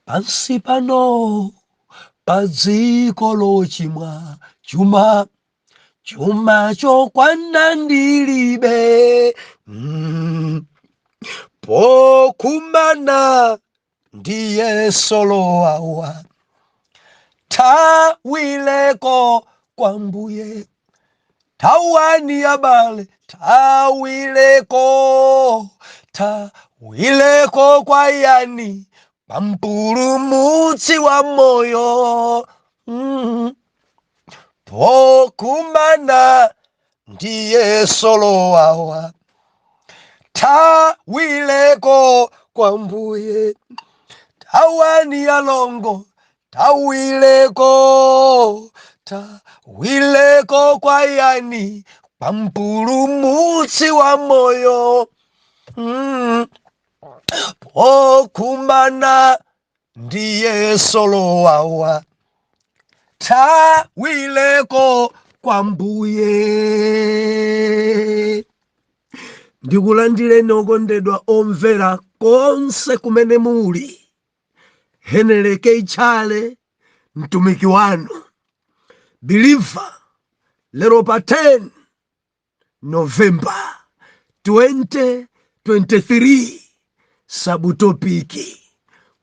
pansi pano padziko lochimwa chuma chuma chokwana ndilibe mm. pokumana ndi yeso lowawa thawire nko kwa Mbuye Tawani abale, tawileko, tawileko kwa yani, kwa mpulumutsi wa moyo. Mm. Pokumana ndiye solo wawa, tawileko kwa mbuye. Tawani alongo, Thawire nko, thawire nko kwa yani? Kwa mpulumutsi wa moyo mm. Pokumana ndi yeso lowawa, thawire nko kwa Mbuye. Ndikulandireni okondedwa omvera konse kumene muli. Henry K. Chale mtumiki wanu believer lero pa 10 November 2023 sabutopiki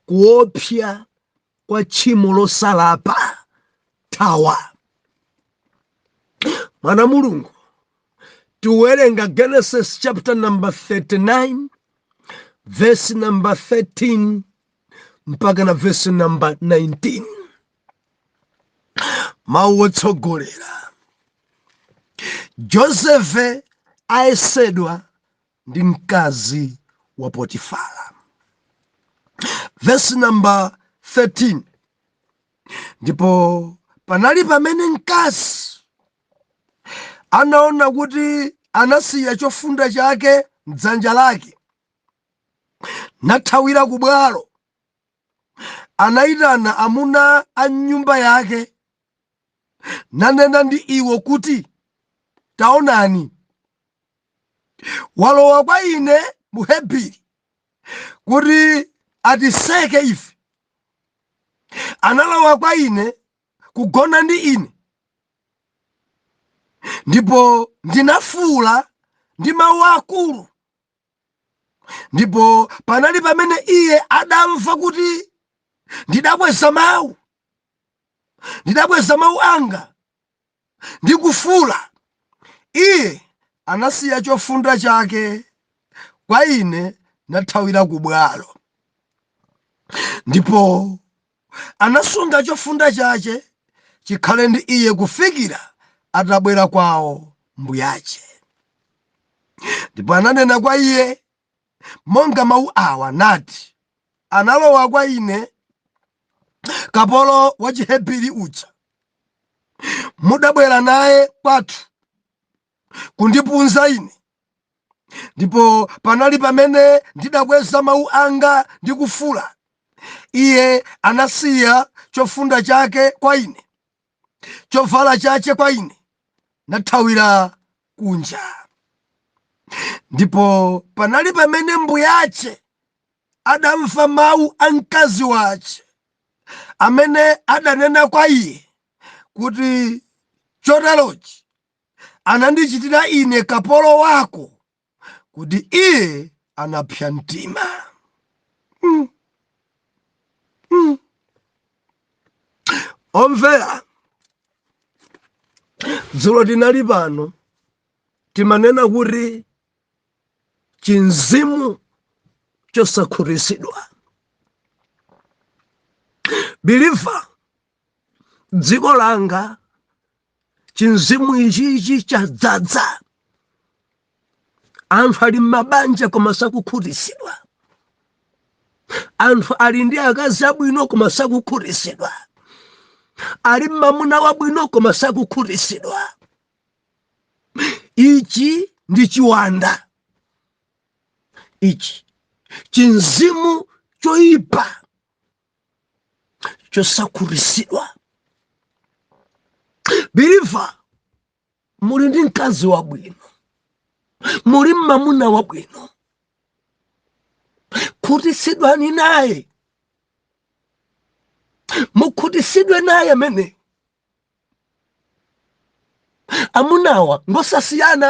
kuopsa kwa tchimo losalapa thawa mwana wa Mulungu tiwerenga genesis chapter number 39 vesi namba 13 mpaka na vesi namba 19 mawu otsogolera Josefe ayesedwa ndi mkazi wa Potifara vesi namba 13 ndipo panali pamene mkazi anaona kuti anasiya chofunda chake m'dzanja lake nathawira ku bwalo anayitana amuna a m'nyumba yake nanena ndi iwo kuti taonani walowa kwa ine Muhebri kuti atiseke ife analowa kwa ine kugona ndi ine ndipo ndinafuula ndi mawu akulu ndipo panali pamene iye adamva kuti ndidakweza mawu ndidakweza mawu anga ndi kufuula, iye anasiya chofunda chake kwa ine nathawira ku bwalo. Ndipo anasunga chofunda chache chikhale ndi iye kufikira atabwera kwawo mbuyache. Ndipo ananena kwa iye, monga mawu awa, nati, Analowa kwa ine kapolo wa Chihebiri uja, mudabwera naye kwathu kundipunza ine, ndipo panali pamene ndidakweza mawu anga ndi kufuula, iye anasiya chofunda chake kwa ine. chovala chache kwa ine nathawira kunja ndipo panali pamene mbuyache adamva mawu a mkazi wache amene adanena kwa iye kuti choterochi anandichitira ine kapolo wako kuti iye anapsa mtima. Mm. Mm. Omvera, dzulo tinali pano timanena kuti chinzimu chosakhutitsidwa believer dziko langa chinzimu ichichi chadzadza anthu ali m'mabanja koma sakukhutitsidwa anthu ali ndi akazi abwino koma sakukhutitsidwa ali m'mamuna wabwino koma sakukhutitsidwa ichi ndi chiwanda ichi chinzimu choyipa chosakhutitsidwa believer muli ndi mkazi wabwino muli m'mamuna wabwino khutitsidwani naye mukhutitsidwe naye amene amunawa ngosasiyana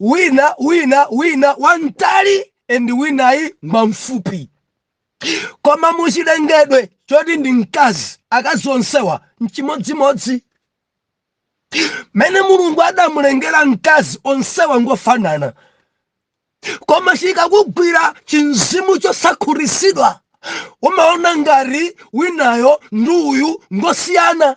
wina wina wina wamtali and winayi ngwamfupi koma muchilengedwe choti ndi mkazi akazi onsewa n'chimodzimodzi mene mulungu adamulengera mkazi onsewa ngofanana koma chikakugwira chinzimu chosakhutitsidwa umaona ngati winayo ndi uyu ngosiyana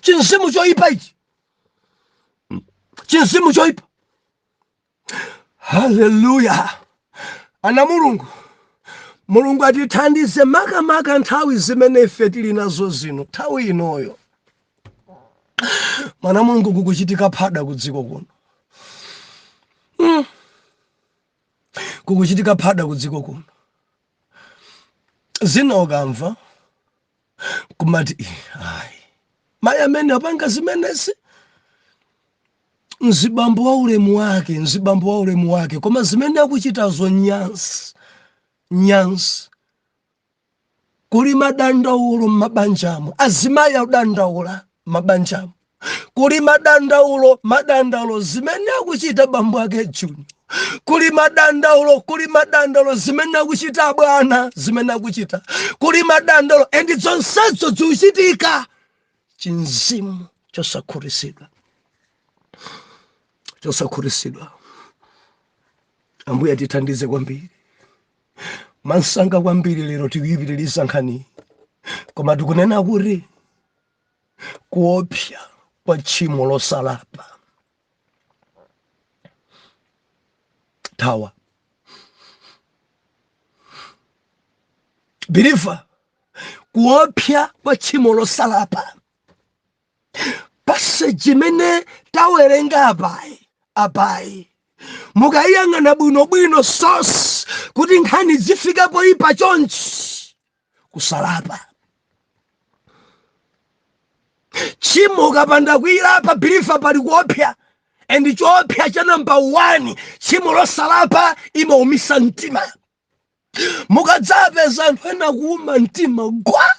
chinzimu choipa ichi chinzimu choipa haleluya ana a mulungu mulungu atithandize makamaka nthawi zimene ife tili nazo zino nthawi inoyo mwana mulungu kukuchitika phada ku dziko kuno mm. kukuchitika phada ku dziko kuno zina ukamva kumati amayi amene apanga zimenezi mzibambo wa ulemu wake mzibambo wa ulemu wake koma zimene akuchitazo nyansi nyansi kuli madandaulo m'mabanjamo azimayi akudandaula m'mabanjamo kuli madandaulo madandaulo zimene akuchita bambo ake junior kuli madandaulo kuli madandaulo zimene akuchita abwana zimene akuchita kuli madandaulo and zonsezo zikuchitika chimzimu chosakhutitsidwa chosakhutitsidwa ambuye atithandize kwambiri mwamsanga kwambiri lero tikuyipitiriza nkhaniyi koma tikunena kuti kuopsa kwa tchimo losalapa thawa biliva kuopsa kwa tchimo losalapa paseji imene tawerenga apayi apayi mukayiyang'ana bwinobwino so kuti nkhani zifika poyipa chonchi kusalapa tchimo ukapanda kuyilapa biliva pali kuopsa and choopsa cha namba 1 tchimo losalapa imaumisa mtima mukadzapeza anthu ena kuuma mtima gwa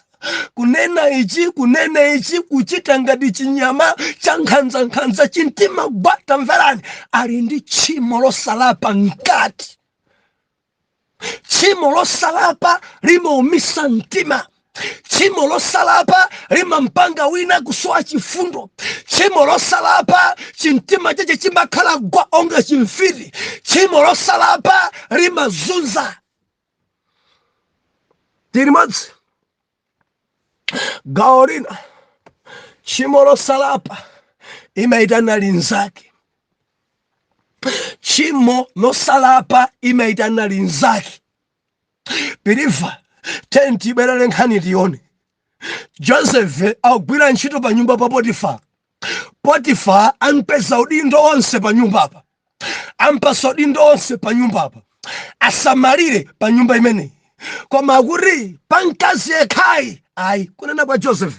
kunena ichi kunena ichi kuchita ngati chinyama cha nkhanzankhanza chimtima gwa tamverani ali ndi tchimo losalapa mkati tchimo losalapa limaumisa mtima tchimo losalapa limampanga wina kusowa chifundo tchimo losalapa chimtima chache chimakhala gwa onga chimfiti tchimo losalapa limazunza tili limodzi gawo lina tchimo losalapa imaitana linzake tchimo losalapa imaitana linzake biliva tendi ibwerere nkhani tione joseph akugwira ntchito pa nyumba pa potifala Potifala ampatsa udindo onse pa nyumba apa, ampatsa udindo onse pa nyumba apa, asamalire pa nyumba imeneyi, koma akuti pa mkazi yekhayi ayi. Kunena kwa Joseph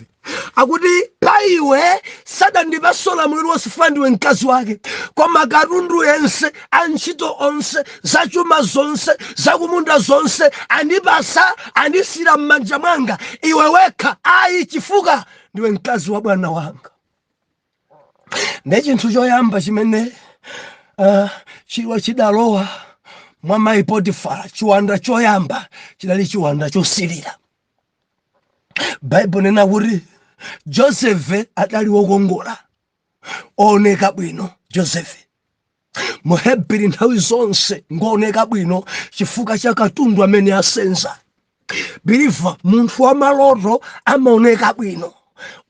akuti pa iwe sadandipatse ulamuliro wonse chifukwa ndiwe mkazi wake koma katundu yense antchito onse zachuma zonse zakumunda zonse andipatsa andisiyira m'manja mwanga iwe wekha ayi chifuka ndiwe mkazi wa bwana wanga ne chinthu choyamba chimene uh, chidalowa mwa mayi potifara chiwanda choyamba chidali chiwanda chosilira baibulo linena kuti josefe adali wokongola ooneka bwino josefe muhebiri nthawi zonse ngooneka bwino chifukwa cha katundu amene asenza biliva munthu wa maloto amaoneka bwino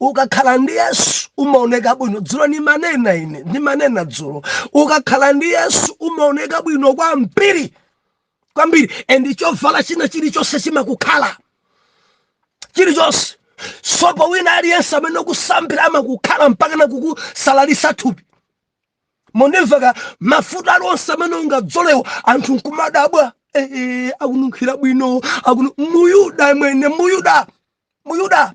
ukakhala ndi yesu umaoneka bwino dzulo ndimanena ine ndimanena dzulo ukakhala ndi yesu umaoneka bwino kwambiri kwambiri and chovala china chilichonse chimakukhala chilichonse sopo wina aliyense amene ukusambira amakukhala mpaka na kukusalalisa thupi mondimva mafuta alionse amene ungadzolewo anthu nkumadabwa eh, eh, akununkhira bwino akunu muyuda mwene muyuda muyuda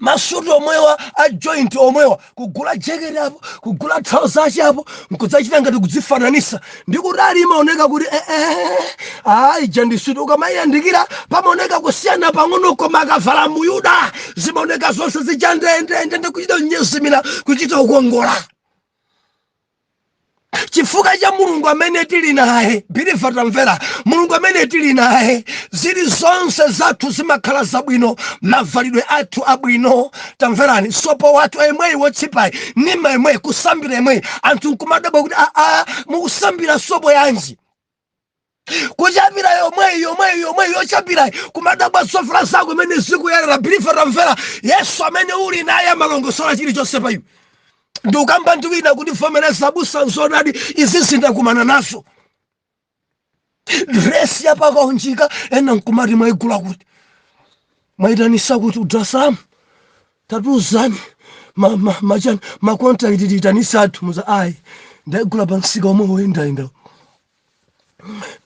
masuti omwewa a joint omwewa kugula jeketi apo kugula trouser yache apo nkudzachita ngati kudzifananisa ndi kutali imaoneka kuti eh, eh, ah, ija ndi suti ukamayiyandikira pamaoneka kusiyana pang'ono koma akavala muyuda zimaoneka zonse zija ndendende kuchita kunyezimira kuchita kukongola chifukwa cha mulungu amene tili naye biliva tamvera mulungu amene tili naye zilizonse zathu zimakhala zabwino mavalidwe athu abwino tamverani sopo wathu emweyi wotsipayi nima emweyi kusambira emweyi anthu nkumadabwa kuti aa mukusambira sopo yanji kuchapira yomweyi yomweyi yomweyi yochapirayi kumadabwa zovala zako mmene zikuyerera biliva tamvera yesu amene uli naye amalongosola chilichonse pa iwe ndikukamba ndi wina kundivomereza abusa nzonadi izizi ndakumana nazo dresi yapakaunjika ena nkumati mwaigula kuti mwaitanisa kuti udrasamu tatiuzani ma ma ma chan ma contact tiitanitsa athu nkuwauza ayi ndagula pa msika omwewu woyendayenda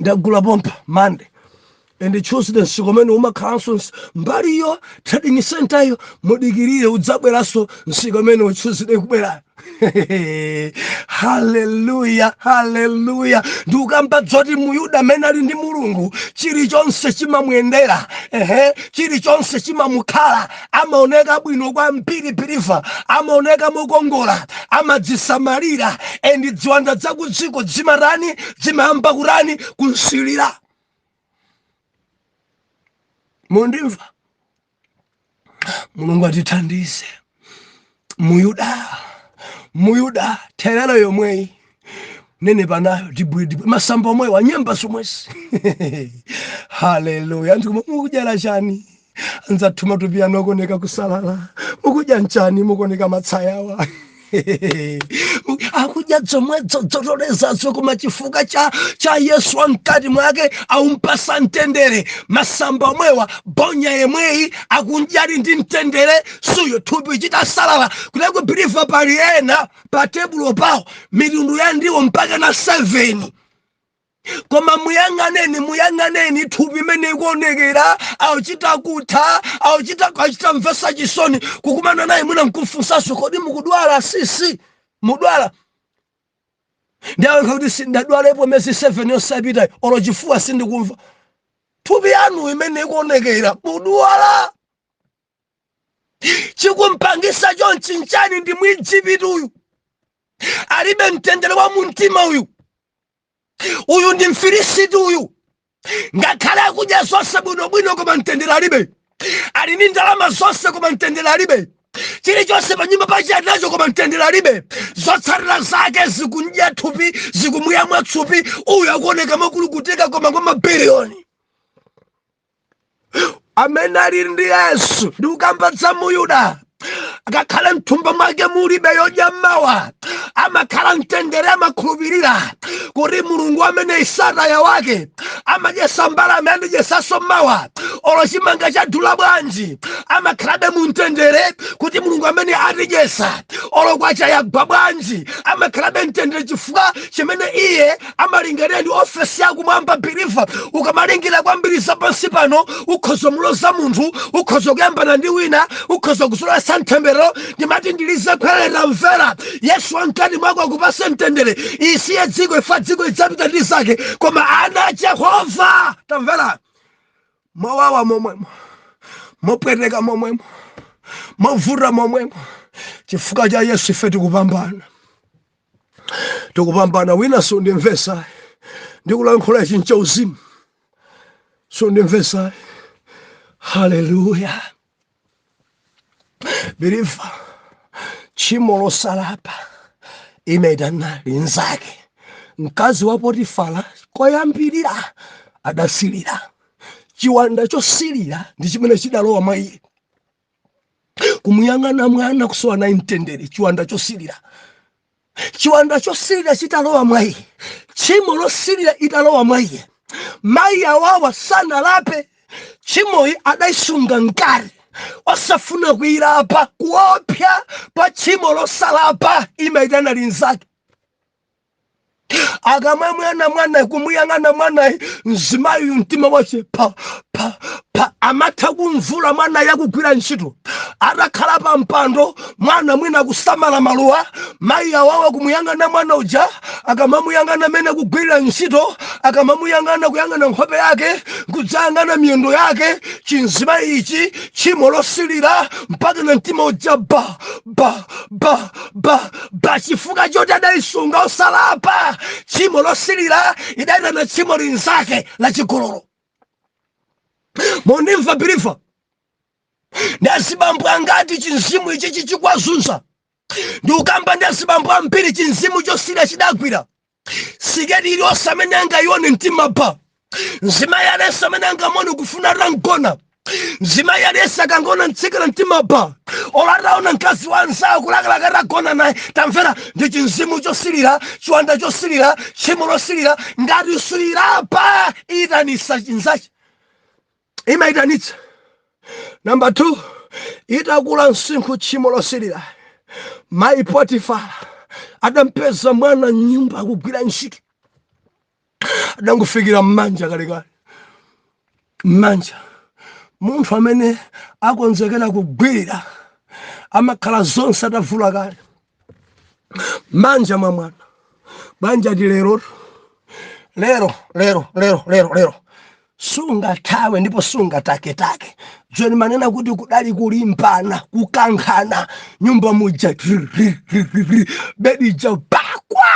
ndagula pompa monday and tuesday msika umene umakhalanso ns- mbali iyo trading center iyo mudikirire udzabweranso msika umeneu tuesday kubwera haleluya haleluya ndikukamba dzoti muyuda amene ali ndi mulungu chilichonse chimamuyendera ehe chilichonse chimamukhala amaoneka bwino kwambiri biliva amaoneka mokongola amadzisamalira endi dziwanda dzakudziko dzimatani dzimayamba kutani kunsilira mundimva mulungu atithandize muyuda muyuda therere yomweyi nenepa nayo dibwidibwi masamba omwewa nyemba zomwezi haleluya anthu koma mukudyala chani anzathu matupi anu akuoneka kusalala mukudya nchani mukuoneka matsayawa akudya dzomwedzo dzotolezazo koma chifukwa cha, cha yesu wamkati mwake aumpasa mtendere masamba omwewa bonya yemweyi akudya ali ndi mtendere suyo thupi chita salala kudaku biliva pali ena pa tebulo pawo mitundu ya ndiwo mpaka na 7 koma muyang'aneni muyang'aneni thupi imene ikuonekera auchita kutha auchita achita mvesa chisoni kukumana naye mwina nkumfunsanso kodi mukudwala sisi mudwala ndiyankha kuti sindadwalepo mezi 7 yosapitayo olo chifuwa sindikumva thupi yanu imene ikuonekera mudwala chikumpangisa chonchi nchani ndi mwijipiti uyu alibe mtendere wa mumtima uyu uyu ndi mfilisiti uyu ngakhale akudya zonse bwinobwino koma mtendere alibe ali ndi ndalama zonse koma mtendere alibe chilichonse pa nyumba pache alinacho koma mtendere alibe zotsatira zake zikudya thupi zikumuyamwa thupi uyu akuoneka mokulukutika koma kwa mabiliyoni amene ali ndi yesu ndikukamba dza muyuda akakhala mthumba mwake mulibe yodya mawa amakhala mtendere amakhulupirira kuti mulungu amene isataya wake amadyesa mbalame andidyesaso mawa olo chimanga chadula bwanji amakhalabe mu mtendere kuti mulungu amene atidyesa olo kwacha yagwa bwanji amakhalabe mtendere chifukwa chimene iye amalingalira ndi ofesi yakumwamba biliva ukamalingira kwambiri zapansi pano ukhoza muloza munthu ukhoza kuyambana ndi wina ukhoza kusolasa mtembero ndimati ndilize khwerera mvera yesu wamkati mwako akupase mtendere isiye dziko ifa dziko idzapita ndi zake koma ana a jehova tamvera mowawa momwemo mopweteka momwemo movuta momwemo chifukwa cha yesu ife tikupambana tikupambana wina sundimvesa ndikulankhula ichi ncha uzimu sundimvesa haleluya biliva tchimo losalapa imaitana linzake mkazi wa potifala koyambirira adasilira chiwanda chosilira ndi chimene chidalowa mwa iye kumuyang'ana mwana kusowa naye mtendere chiwanda chosilira chiwanda chosilira chitalowa mwa iye tchimo losilira italowa mwa iye mayi awawa sanalape tchimoyi adayisunga mkati osafuna kuyilapa kuopsya kwa tchimo losalapa imayitana linzake akamamuona mwanayi kumuyang'ana mwanayi mzimayiyu mtima wace pa pa pa amatha kumvula mwanayi akugwira ntchito atakhala pa mpando mwana mwina kusamala maluwa mayi awawa kumuyang'ana mwana uja akamamuyang'ana mmene akugwirira ntchito akamamuyang'ana kuyang'ana nkhope yake kudzayang'ana miyendo yake chinzimayi ichi tchimo losilira mpaka na mtima uja ba ba ba ba ba chifukwa choti adaisunga osalapa tchimo losilira idaitana tchimo linzake la chigololo mondimva biliva ndi azibambo angati chinzimu ichi chikuwazunza ndikukamba ndi azibambo ambiri chinzimu chosirira chidagwira siketi iliyonse amene angayione mtima pa mzimayi aliyense amene angamuone kufuna atamgona mzimayi aliyense akangoona mtsikana mtima pa olo ataona mkazi wa anzawo kulakalaka atagona naye tamvera ndi chinzimu chosilira chiwanda chosilira tchimo losilira ngati suilapa iitanisa chinzachi imaitanitsa. Namba 2, itakula msinkhu tchimo losilira, mayi Potifara adampeza mwana mnyumba akugwira ntchito, adangofikira mmanja kalekale mmanja. Munthu amene akonzekera kugwirira amakhala zonse atavula kale. manja mwa mwana nkunja ndi lero lero lero lero lero lero sungathawe ndipo sungataketake choti ndimanena kuti kudali kulimbana kukankhana mnyumba muja bedi ja bakwa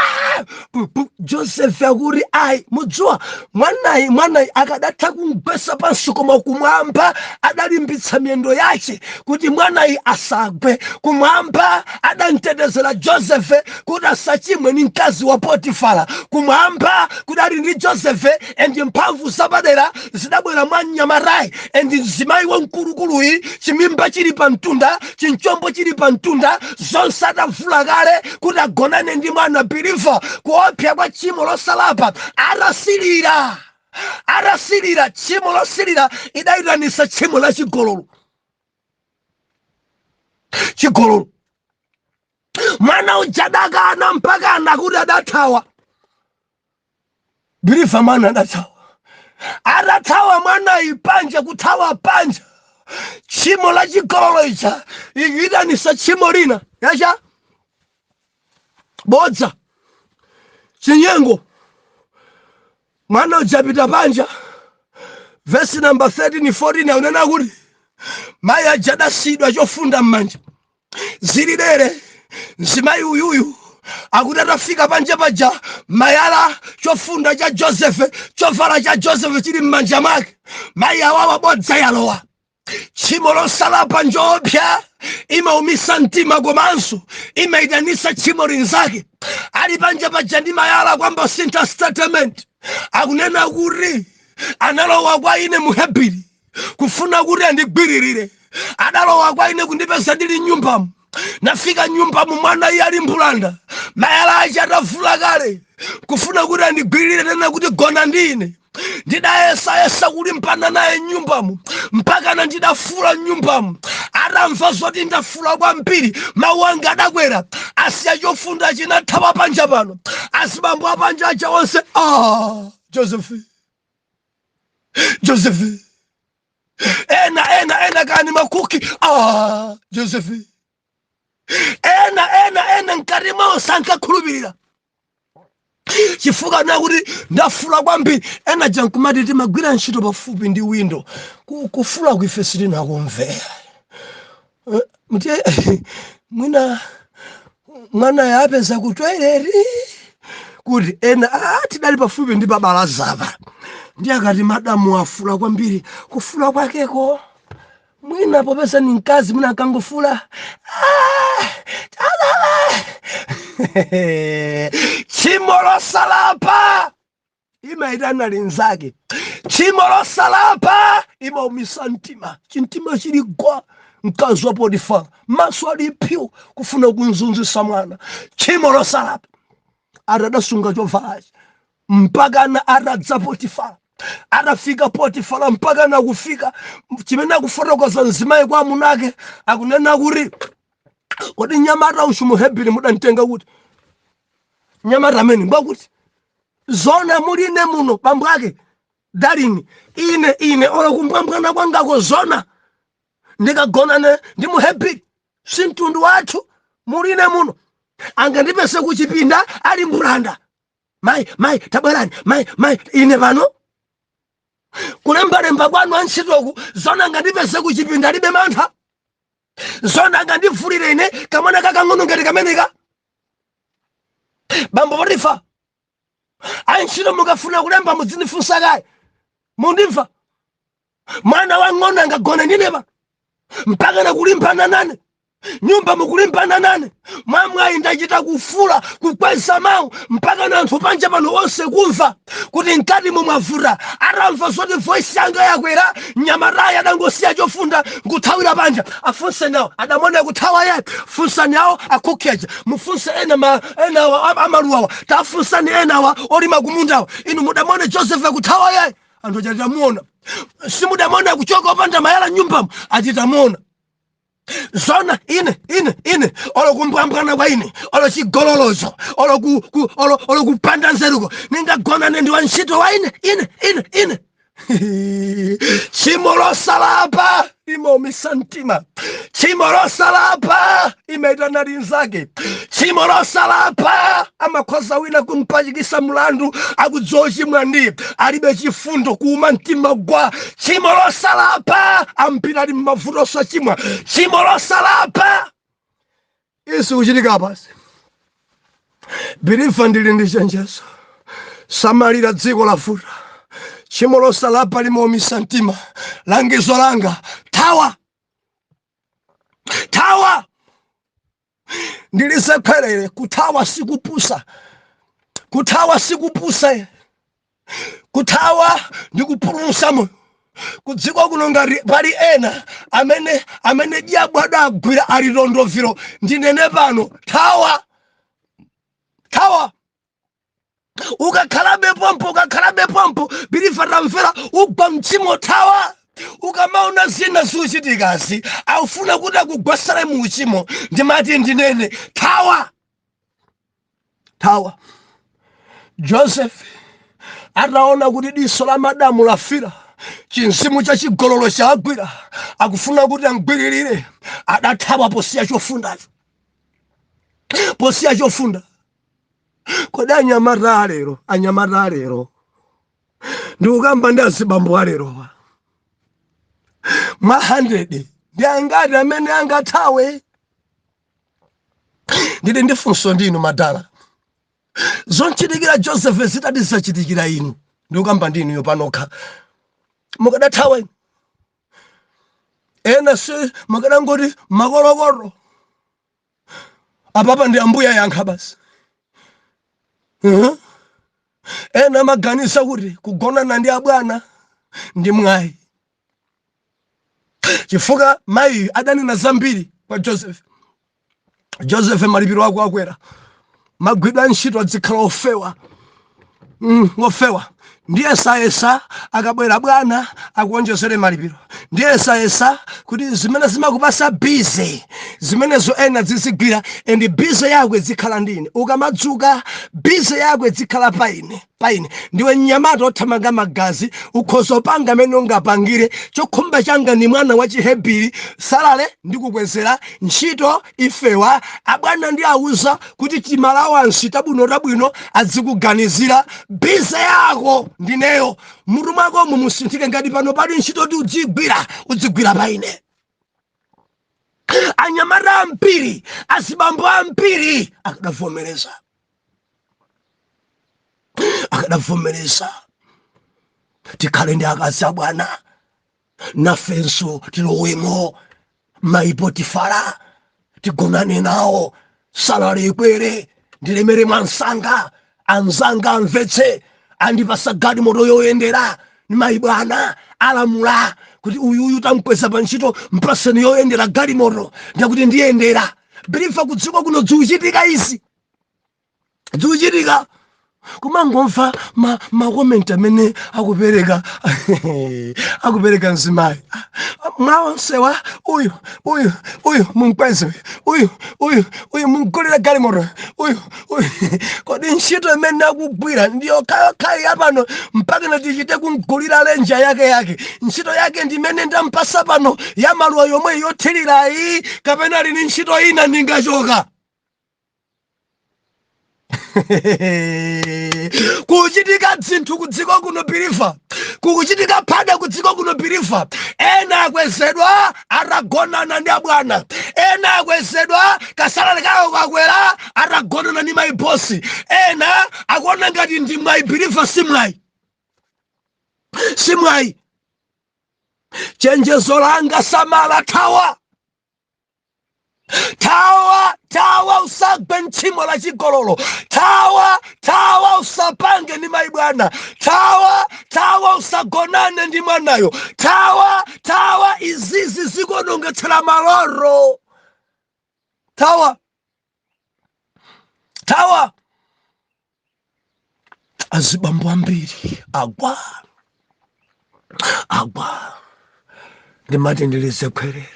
joseph akuti ayi mudziwa mwanayi mwanayi akadatha kumgwesa pansi koma kumwamba adalimbitsa miyendo yace kuti mwanayi asagwe kumwamba adamtetezera joseph kuti asachimwe ni mkazi wa potifara kumwamba kudali ndi joseph endi mphamvu zapadera zidabwera mwa mnyamatayi endi mzimayi wamkulukuluyi chimimba chili pa mtunda chinchombo chili pa mtunda zonse atavula kale kuti agonane ndi mwana biliva kuopsa kwa tchimo losalapa atasilira atasilira tchimo losilira idayitanisa tchimo la chigololo chigololo mwana uja adakana mpaka nakuti adathawa Biliva mwana adathawa, adathawa mwanayi panja, kuthawa panja tchimo la chigololo ija ikuitanisa tchimo lina ya chabodza chinyengo mwana uja wapita panja vesi namba 13 14 akunena kuti mayi aja adasiyidwa chofunda m'manja zili dere mzimayi uyuyu akuti atafika panja paja mayala chofunda cha josefe chovala cha josefe chili m'manja mwake mayi awawa bodza yalowa tchimo losalapa njoopsa imaumisa mtima komanso imaitanisa tchimo linzake ali panja paja ndi mayala kwamba sintha statement akunena kuti analowa kwa ine muhebiri kufuna kuti andigwiririre adalowa kwa ine kundipeza ndili nyumbamu nafika nyumbamu mwana iye ali mbulanda mayala ache atavula kale kufuna kuti andigwiririre nena kuti gona ndi ine ndidayesayesa kulimbana naye m'nyumbamu mpakana ndidafuula m'nyumbamu atamva zoti ndafuula kwambiri mawu anga adakwera asiya chofundachi nathawa panja pano azibambo apanja aja onse ah, josephi joseph ena ena ena kani makuki ah joseph ena ena ena mkatimo sankakhulupirira chifukwa nakuti ndafuula kwambiri ena aja n'kumati timagwira ntchito pafupi ndi windo Ku- kufuulaku ife sitinakumvera Eh, mti mwina mwanayo apeza ku toilet kuti ena "Ah, tidali pafupi ndi pabalazapa ndiye akati madamu afuula kwambiri kufuula kwakeko mwina popeza ni mkazi mwina akangofuula "Ah, tadala." tchimo losalapa imaitana linzake tchimo losalapa imaumisa mtima chimtima chili gwa mkazi wa potifara maso ali pyu kufuna kumzunzitsa mwana tchimo losalapa atasunga chovalachi mpakana atadza potifara atafika potifara mpakana kufika chimene akufotokoza mzimayi kwa amuna ake akunena kuti kodi nyamata uyu muhebiri mudamtenga kuti nyamata amene ngwakuti Zoona muli ine muno bambo ake darling ine ine olo kumbwambwana kwangako zoona ndikagonane ndi muhebiri si mtundu wathu muli ine muno angandipeze kuchipinda ali mbulanda mayi mayi tabwerani mayi mayi ine pano kulembalemba kwanu antchitoku zoona angandipeze kuchipinda alibe mantha zona angandivulire ine kamwana kakang'ono ngati kameneka bambo potifa antchito mukafuna kulemba mudzindifunsa kaye mundimva mwana wang'ono angagone ndineba mpakana kulimbana nane mnyumbamu kulimbana nane mwamwayi ndachita kufuula kukweza mawu mpakana anthu panja pano onse kumva kuti mkatimu mwavuta atamva zoti voisi yanga yakwera mnyamatayu adangosiya chofunda nkuthawira panja afunseni awo adamona akuthawa yayi funsani awo akukheja mufunse ena ma- enawa a- amaluwawa tafunsani enawa olima kumundawa inu mudamona joseph akuthawa yayi anthu achitamuona simudamone kuchoka opanda mayala mnyumbamo achitamuona zona ine ine ine olo kumbwambwana kwa ine olo chigololocho olo kupanda nzeruko ningagonane ndi wantchito wa ine ine ine ine tchimo losalapa limaumisa mtima tchimo losalapa limaitana linzake tchimo losalapa amakhoza wina kumpachikisa mlandu akudziwa ochimwa ndi alibe chifundo kuuma mtima gwa tchimo losalapa ambiri ali mmavuto osachimwa tchimo losalapa izi kuchitika pansi believer ndili ndi chenjezo samalira dziko lavuta tchimo losalapa limaumitsa mtima langizo langa thawa thawa ndilizekwerere kuthawa sikupusa kuthawa sikupusa kuthawa ndi kupulumusa moyo kudziko kuno ngati pali ena amene amene diabo adagwira ali tondoviro ndinene pano thawa thawa ukakhalabe pompo ukakhalabe pompo believer tamvera ugwa mtchimo thawa ukamaona zina zikuchitikazi akufuna kuti akugwasale mu uchimo ndimati ndinene thawa thawa joseph ataona kuti diso la madamu lafira chimzimu cha chigololo chagwira akufuna kuti amgwiririre adathawa posiya chofundacho posiya chofunda kodi anyamata alero anyamata alero ndikukamba ndi azibambo alerowa mwa 100 ndi angati amene angathawe ndili ndi funso ndi inu madala zomchitikira joseph zitati zachitikira inu ndikukamba ndi inuyo panokha mukadathawa inu ena si mukadangoti makolokoto apapa ndi ambuye ayankha basi uh-huh. ena amaganiza kuti kugonana ndi abwana ndi mwayi chifukwa mayi adanena zambiri kwa joseph joseph malipiro ako akwera magwidwe a ntchito adzikhala ofewa mm, ofewa ndiyesayesa akabwera bwana akuonjezere malipiro ndiyesayesa kuti zimene zimakupasa bize zimenezo ena adzizigwira and bize yako izikhala ndi ine ukamadzuka bize yako izikhala pa ine paine ndiwe mnyamata othamanga magazi ukhoza upanga mmene ungapangire chokhumba changa ndi mwana wa chihebiri salale ndikukwezera ntchito ifewa abwana ndiwauza kuti timalawansi tabwino tabwino adzikuganizira bize yako ndineyo mmutu mwakomo musinthike ngati pano pali ntchito yoti udzigwira udzigwira paine anyamata ambiri azibambo ambiri akadavomereza akadavomereza tikhale ndi akazi abwana nafenso tilowemo mayi potifara tigonane nawo salale ikwere ndilemere mwansanga anzanga amvetse andipasa galimoto yoyendera ni mayi bwana alamula kuti uyuyu tamkweza pa ntchito mpaseni yoyendera galimoto ndakuti ndiyendera bilifa kudziko kuno dziuchitika izi zikuchitika kumangomva ma, ma comment amene akupereka akupereka mzimayi mwa onsewa uyu uyu uyu mumkweze uyu uyu uyu mumgulira galimoto uyu uyu kodi ntchito imene akugwira ndi yokhayi yapano mpaka natichite kumgulira lenja yake yake ntchito yake ndimene ndampasa pano ya maluwa yomwe yothirirayi kapena ali ni ntchito ina ndingachoka kuchitika dzinthu kudziko kuno bilifa kukuchitika phada kudziko kuno bilifa ena akwezedwa atagonana ndi abwana ena akwezedwa kasalale kawo kakwera atagonana ndi mayi bosi ena akuona ngati ndi mwayi bilifa si mwayi si mwayi chenjezo langa samala thawa thawa thawa usagwe mtchimo la chigololo thawa thawa usapange ndi mayi bwana thawa thawa usagonane ndi mwanayo thawa thawa izizi zikuonongetsera maloto thawa thawa azibambo ambiri agwa agwa ndimati ndilize khwerere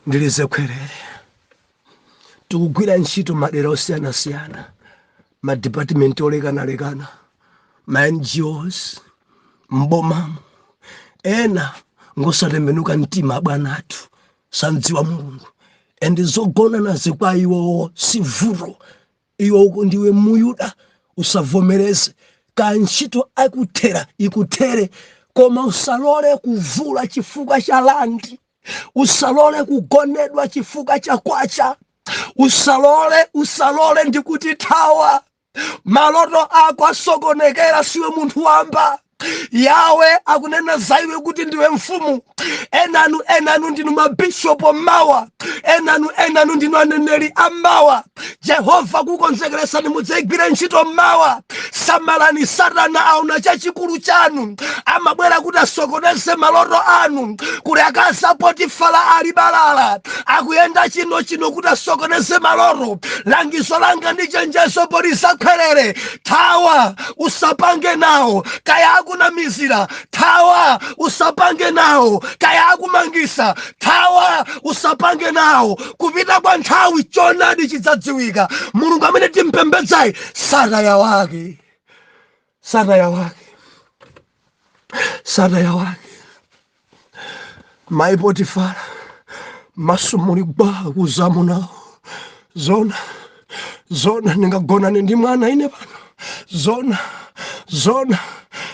ndilize khwerere tikugwira ntchito madera osiyanasiyana madipatimenti olekanalekana ma ngos m'bomamo ena ngosatembenuka mtima abwana athu samdziwa mulungu and zogonanazi kwa iwowo si vuto iwo ndiwe muyuda usavomereze kaya ntchito ikuthera ikuthere koma usalole kuvula chifukwa cha landi usalole kugonedwa chifukwa cha kwacha usalole usalole ndikuti thawa maloto ako asokonekera siwe munthu wamba yawe akunena za iwe kuti ndiwe mfumu enanu enanu ndinu mabishopu mawa enanu enanu ndinu aneneri amawa jehova akukonzekeresani mudzayigwire ntchito mawa samalani satana aona chachikulu chanu amabwera kuti asokoneze maloto anu kuli akazi a potifala ali balala akuyenda chino chino kuti asokoneze maloto langizo langa ndi chenjezo poliza khwerere thawa usapange nawo kaya akunamizira thawa usapange nawo kaya akumangisa thawa usapange nawo kupita kwa nthawi chonadi chidzadziwika mulungu amene timpembedzayi sataya wake sataya wake sataya wake mayi potifara maso muli gwaa kuuza amuna awo zona zona ndingagonane ndi mwana ine pano zona zona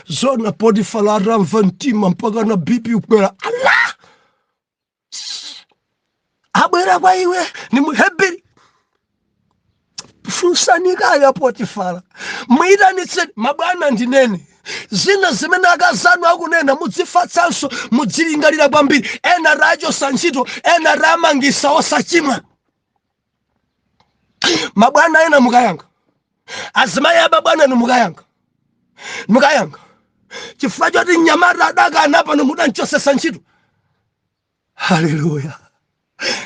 zona potifara atamva mtima mpaka na bp kukwera ala abwera kwa iwe ndi muheberi funsani kaye a potifara muyitanitseni mabwana ndinene zina zimene akazanu akunena mudzifatsanso mudzilingalira kwambiri ena tachosa ntchito ena tamangisa osachimwa mabwana ena mukayankha azimayi a mabwana inu mukayankha mukayankha chifukwa choti mnyamata adakana pano mudanchosesa ntchito haleluya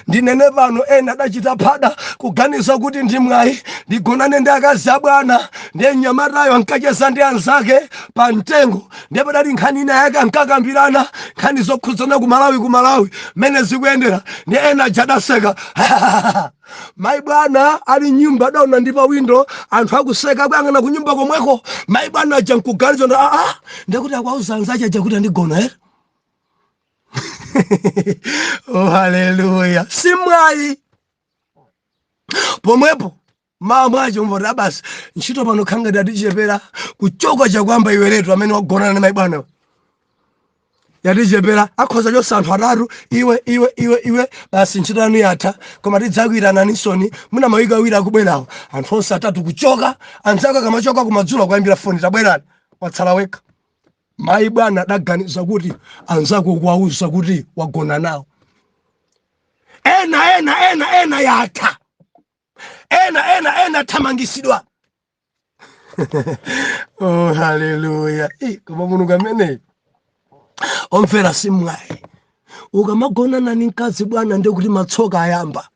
ndinene pano ena adachita phada kuganiza kuti ndi mwayi ndigonane ndi akazi abwana ndiye mnyamatayo ankacheza ndi anzake pa mtengo ndiye padali nkhani ina yake ankakambirana nkhani zokhudzana ku malawi ku malawi mmene zikuyendera ndi ena aja adaseka mayi bwana ali mnyumba adaona ndi pa windo anthu akuseka akuyang'ana ku nyumba komweko mayi bwana aja nkuganiza ndi aa ndikuti akuwauza anzache aja kuti andigona ere oh, haleluya si mwayi pomwepo mmawa mwache umva kuti aa basi ntchito pano khala ngati yatichepera kuchoka sakuyamba iweyotu amene wagonana ndi mai bwana yatichepera akhoza chosa anthu atatu iwe iwe iwe iwe basi ntchito yanu yatha koma tidzakuitananinso mwina mawiki awiri akubwerawo anthu onse atatu kuchoka anzako akamachoka kumadzulo kuwaimbira foni tabwerani watsala wekha mayi bwana adaganiza kuti anzako ukuwauza kuti wagona nawo ena ena ena ena yatha ena ena ena athamangisidwa oh haleluya koma mulungu ameneyo omvera simwayi ukamagonana ni mkazi bwana ndekuti matsoka ayamba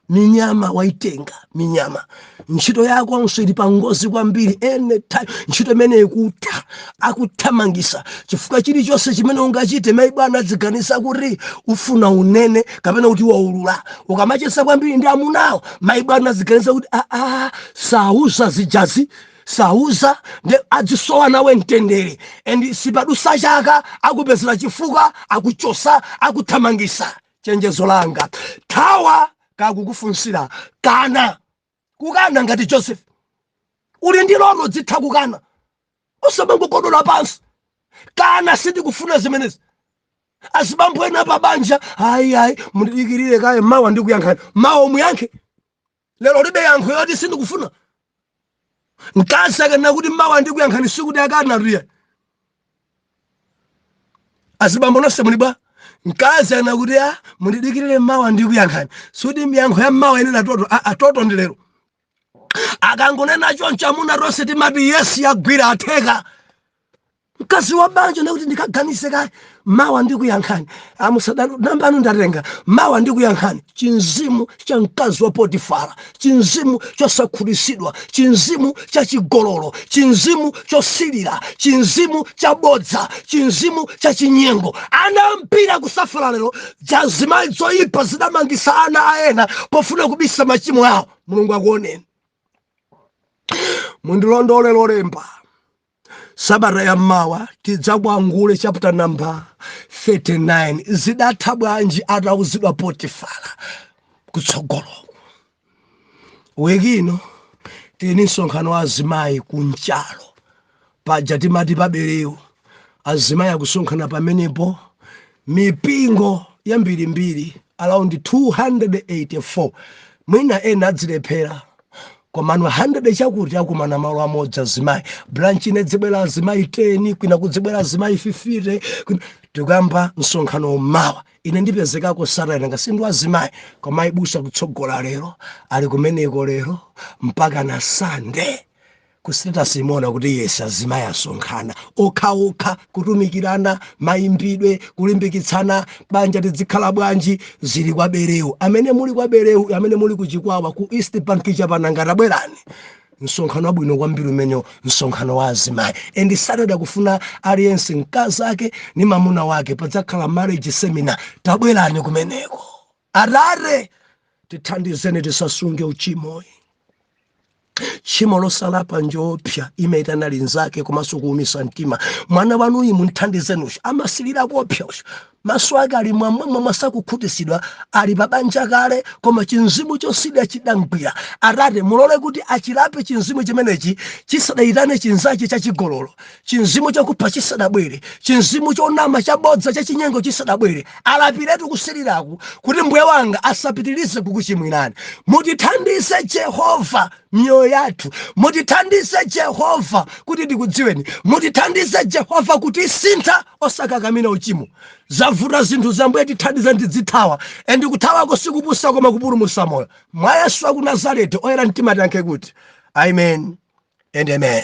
minyama waitenga minyama ntchito yakonso ili pangozi kwambiri anytime ntchito imeneyi ikutha akuthamangisa chifukwa chilichonse chimene ungachite mai bwana adziganiza kuti ufuna unene kapena kuti waulula ukamacheza kwambiri ndi amunawo mai bwana adziganiza kuti aa ah, ah, sauza zijazi sauza nde adzisowa nawe mtendere and sipadusa chaka akupezera chifukwa akuchosa akuthamangisa chenjezo langa thawa akakufunsira kana kukana ngati joseph uli ndi loto udzitha kukana usamangokodola pansi kana sindikufuna zimenezi azibambo ena pa banja ayi ayi mundidikirire kaye mawa ndikuyankhani mawa umuyankhe lero ulibe yankho yoti sindikufuna mkazi akanena kuti mawa ndikuyankhani sikuti akanatu iyayi azibambo nonse muli bwa mkazi ana kuti a mundidikirire mawa ndikuyankhani sikuti miyankho ya mawa inena toto a a toto ndi lero akangonena choncho amuna tonse timati yesi yagwira atheka mkazi wa banja nakuti ndikaganize kaye mawa ndikuyankhani amusadalo namba yanu ndatenga mawa ndikuyankhani chinzimu cha mkazi wa potifara chinzimu chosakhutisidwa chinzimu cha chigololo chinzimu chosilira chinzimu cha bodza chinzimu cha chinyengo ana ambiri akusafala lero zizimayi zoyipa zidamangisa ana a ena pofuna kubisa machimo awo mulungu akuoneni mundilondole lolemba sabata ya mawa tidzakwangula chapter number 39 zidatha bwanji atauzidwa potifala kutsogolo wiki ino tili msonkhano wa azimayi ku mchalo paja timati pa Bereu azimayi akusonkhana pamenepo mipingo yambirimbiri around 284 mwina ena adzilephera komano 100 chakuti akumana malo amodzi azimayi branch ina idzibwera azimayi 10 kwina kudzibwera azimayi 50 tikuyamba msonkhano mmawa ine ndipezekako Saturday nkatsindike azimayi koma mayi busa atsogola lero ali kumeneko lero mpaka na sande Kusiteji timaona kuti yes azimayi asonkhana okhaokha kutumikirana, mayimbidwe, kulimbikitsana, banja tidzikhala bwanji, zili kwa Bereu. Amene muli kwa Bereu, amene muli ku Chikwawa, ku East Bank cha Pananga tabwerani. Msonkhano wabwino kwambiri umenewo, msonkhano wa azimayi. And Saturday akufuna aliyense mkazake ni mamuna wake, padzakhala marriage seminar. Tabwerani kumeneko. Atate, tithandizeni tisasunge uchimoyi. Tchimo losalapa njoopsa limaitana linzake komanso kuumisa mtima. Mwana wanuyi mumthandizeni uyu amasilira kuopsa uyu maso ake ali mwamwamwa sakukhutisidwa ali pabanja kale koma chimzimu chosilira chidamgwira atate mulole kuti achilape chimzimu chimenechi chisadayitane chinzache chachigololo Chimzimu chakupha chisadabwere, chimzimu chonama, chabodza, chachinyengo chisadabwere, alapiretu kusiliraku kuti Mbuye wanga asapitilize kukuchimwirani. Mutithandize Jehovah miyoyo yathu, mutithandize Jehovah kuti tikudziweni, mutithandize Jehovah kuti tisinthe osakakamira uchimo. Zavuta zinthu Ambuye tithandizeni tidzithawa and kuthawako sikupusa koma kupulumusa moyo. Mwa Yesu waku Nazarete oyera mtima tiyankhe kuti Amen and Amen.